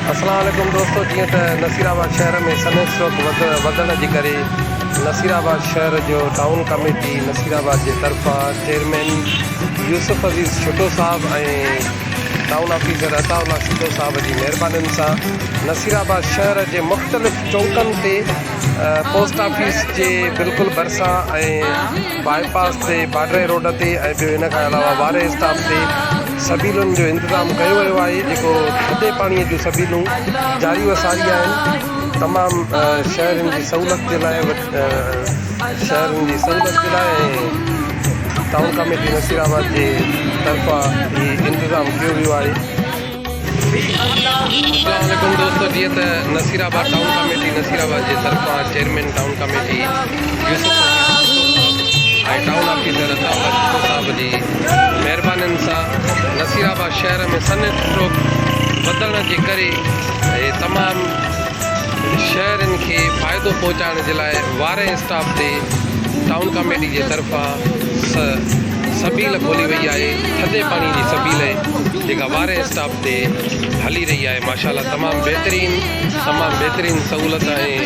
السلام عليڪم دوستو جيئن ته نصير آباد شهر ۾ سنيس چوڪ وڌڻ جي ڪري نصير آباد شهر جو ٽائون ڪميٽي نصير آباد جي طرفان چيئرمين يوسف عزيز شٽو صاحب ۽ ٽائون آفيسر عطا الله سٽو صاحب جي مهربانين سان نصير آباد شهر جي مختلف چوڪن تي پوسٽ آفيس جي بلڪل ڀرسان ۽ باء پاس تي باڊري روڊ تي ۽ ٻيو ان کان علاوه واري اسٽاپ تي سبيلن جو انتظام ڪيو ويو آهي جيڪو ٿڌي پاڻي جون سبيلون جاري و ساري آهن تمام شهرين جي سهولت جي لاء شهرين جي سهولت جي لاء ٽائون ڪاميٽي نصير آباد جي طرفان هي انتظام ڪيو ويو آهي اسلام عليڪم دوستو جيئن ته Nasirabad town committee Naseer آباد جي طرفان chairman town committee Yusuf ۽ town officer Ataullah Shakko صاحب جي مهربانين سان نصير آباد شهر ۾ سن اسٽروڪ وڌڻ جي ڪري تمام شهرين کي فائدو پهچائڻ جي لاء وارهين اسٽاف تي ٽائون ڪاميٽي جي طرفان سبيل کولي وئي آهي ٿڌي پاڻي جي سبيل جيڪا واري اسٽاپ تي هلي رهي آهي ماشاءالله تمام بهترين تمام بهترين سهولت آهي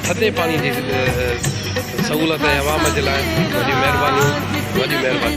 ٿڌي پاڻي جي سهولت آهي عوام جي لاء وڏي مهرباني وڏي مهرباني